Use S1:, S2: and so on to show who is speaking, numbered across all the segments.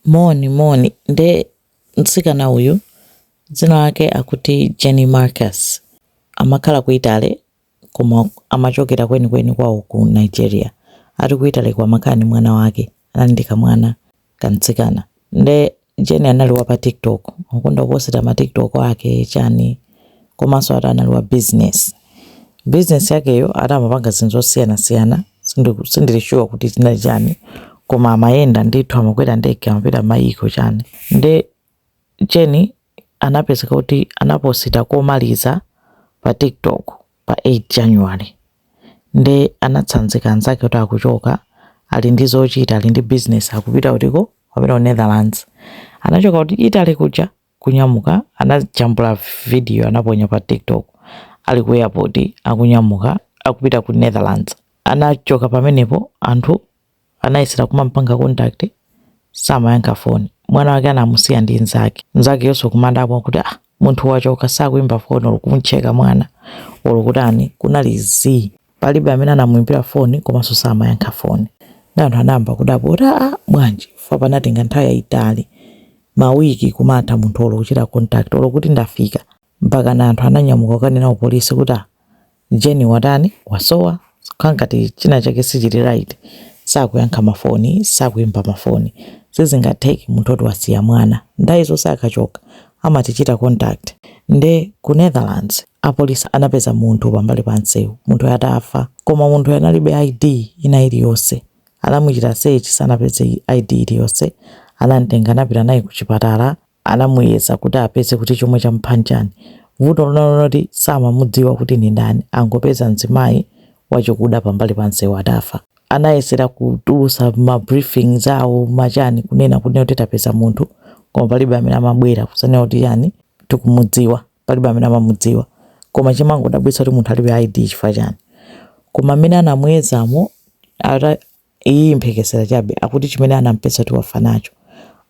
S1: Moni, moni. Nde mtsikana uyu dzina lake akuti Jenny Marcus. Amakhala ku Italy koma amachokera kwenikweni kwawo ku Nigeria. Ali ku Italyko amakhala ndi mwana wake. Anali ndi kamwana kamtsikana. Nde Jenny anali wa pa TikTok. Amakonda kuposita ma TikTok ake, chani. komanso ati anali wa business. Business yakeyo ati amapanga zinthu zosiyanasiyana sindiku- sindili sure kuti zinali chani koma amayenda ndithu amakwera ndege amapita mayiko chani nde Jenny anapezeka kuti anaposita komaliza pa tiktok pa 8 january nde anatsanzika anzake kuti akuchoka ali ndi zochita ali ndi business akupita kutiko wapita ku netherlands anachoka ku Italy kuja kunyamuka anajambula video anaponya pa tiktok ali ku airport akunyamuka akupita ku Netherlands anachoka pamenepo anthu anayesera kumampanga contact samayankha foni mwana wake anamusiya ndi nzake nzakeyonso kumadabwa kuti ah munthu wachoka sakuimba foni olo kumcheka mwana olo kutani kunali zii Palibe amene anamuimbira foni komanso samayankha foni. Ndiye anthu anayamba kudabwa kuti, Aa bwanji? Chifukwa panatenga nthawi yaitali, mawiki kumatha munthu olo kuchita contact, olo kuti ndafika. Mpakana anthu ananyamuka kukanena kupolisi kuti, Aa Jenny watani? Wasowa? Zikukhala ngati chinachake sichili right. Sakuyankha mafoni, sakuimba mafoni. Sizingatheke munthu woti wasiya mwana. Nthawi zonse akachoka amatichita contact. Nde ku Netherlands. Apolisi anapeza munthu pambali pa nseu munthuyo atafa koma munthuyo analibe ID ina iliyonse anamuchita search sanapeze ID iliyonse anamtenga anapita naye kuchipatala anamuyeza kuti apeze kuti chomwe chamupha nchani vuto linali loti samamudziwa kuti ndi ndani angopeza mzimayi wachikuda pambali pa nseu atafa anayesera kutulusa ma briefing zawo machani kunena kuti tapeza munthu koma palibe amene amabwera kuzanena kuti chani tikumudziwa. palibe amene amamudziwa koma chimangowadabwitsa kuti munthu alibe id chifukwa chani koma amene anamuyezamo ati iyi mphekesera chabe akuti chimene anampeza kuti wafa nacho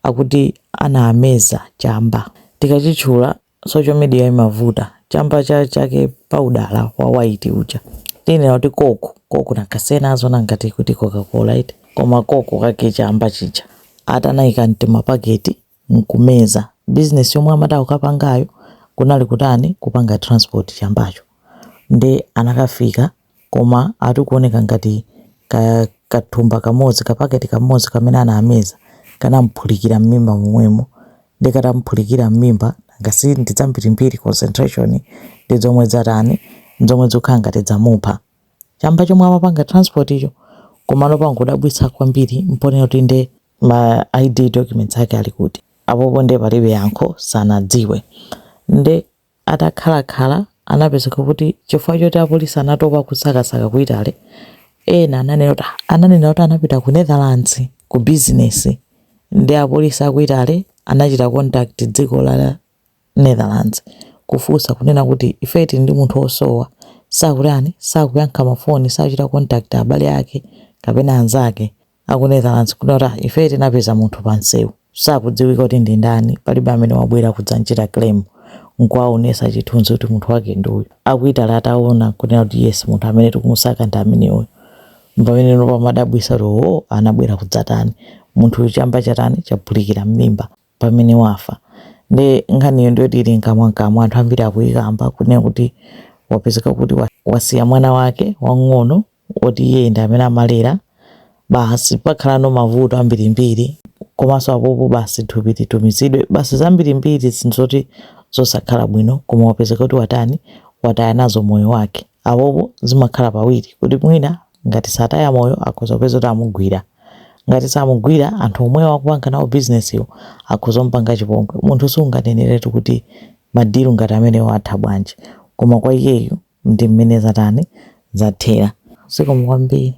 S1: akuti anameza chamba tikachitchula social media imavuta chamba chake cha paudala wa white uja tinene kuti koko koko ndikazinena azaona ngati kuti coca-cola eti koma koko kake chamba chija ati anayika m'timapaketi nkumeza business yomwe amati akukapangayo kunali kutani kupanga transport chambacho nde anakafika koma ati kuoneka ngati kathumba kamodzi kapaketi kamodzi kamene anameza kanamuphulikira mmimba momwemo nde katamuphulikira mmimba ngasi ndi zambirimbiri concentration ndi zomwe zatani zomwe zokhala ngati zamupha chamba chomwe amapanga transport icho komano pangodabwitsa kwambiri mponena kuti nde ma id documents ake ali kuti apopo nde palibe yankho sanadziwe nde atakhalakhala anapezeka kuti chifukwa choti apolisi anatopa kusakasaka ku italy ena ananena kuti ananena kuti anapita ku netherlands ku business nde apolisi aku italy anachita contact dziko la netherlands kufunsa kunena kuti ife tili ndi munthu osowa sakutani sakuyankha mafoni sakuchita contact abale ake kapena anzake a ku Netherlands kunena kuti "Ah, ife tinapeza munthu pa msewu sakudziwika kuti ndi ndani palibe amene wabwera kudzanchita claim nkuwaonesa chithunzi kuti munthu wake ndi uyu aku Italy ataona kunena kuti yes munthu amene tikumusaka ndi ameneyu pamenepo pamadabwisa kuti o anabwera kudzatani munthu uyu chamba chatani chaphulikira m'mimba pamene wafa nde nkhaniyo ndiyoti ili mkamwamkamwa anthu ambiri akuyikamba kunena kuti wapezeka kuti wasiya mwana wake wang'ono woti iyeyo ndi amene amalera basi pakhalano mavuto ambirimbiri komanso apopo basi thupi litumizidwe basi zambirimbiri zinthu zoti zosakhala bwino koma wapezeka kuti watani wataya nazo moyo wake Apopo zimakhala pawiri kuti mwina ngati sataya moyo akhoza kupezeka kuti amugwira. Ngati samugwira, anthu omwewo akupanga nawo bizinesiwo akhoza kumupanga chipongwe. Munthu sunganeneretu kuti ma deal ngati amenewo atha bwanji. Koma kwa iyeyu ndi mmene zatani, zathera. Zikomo kwambiri.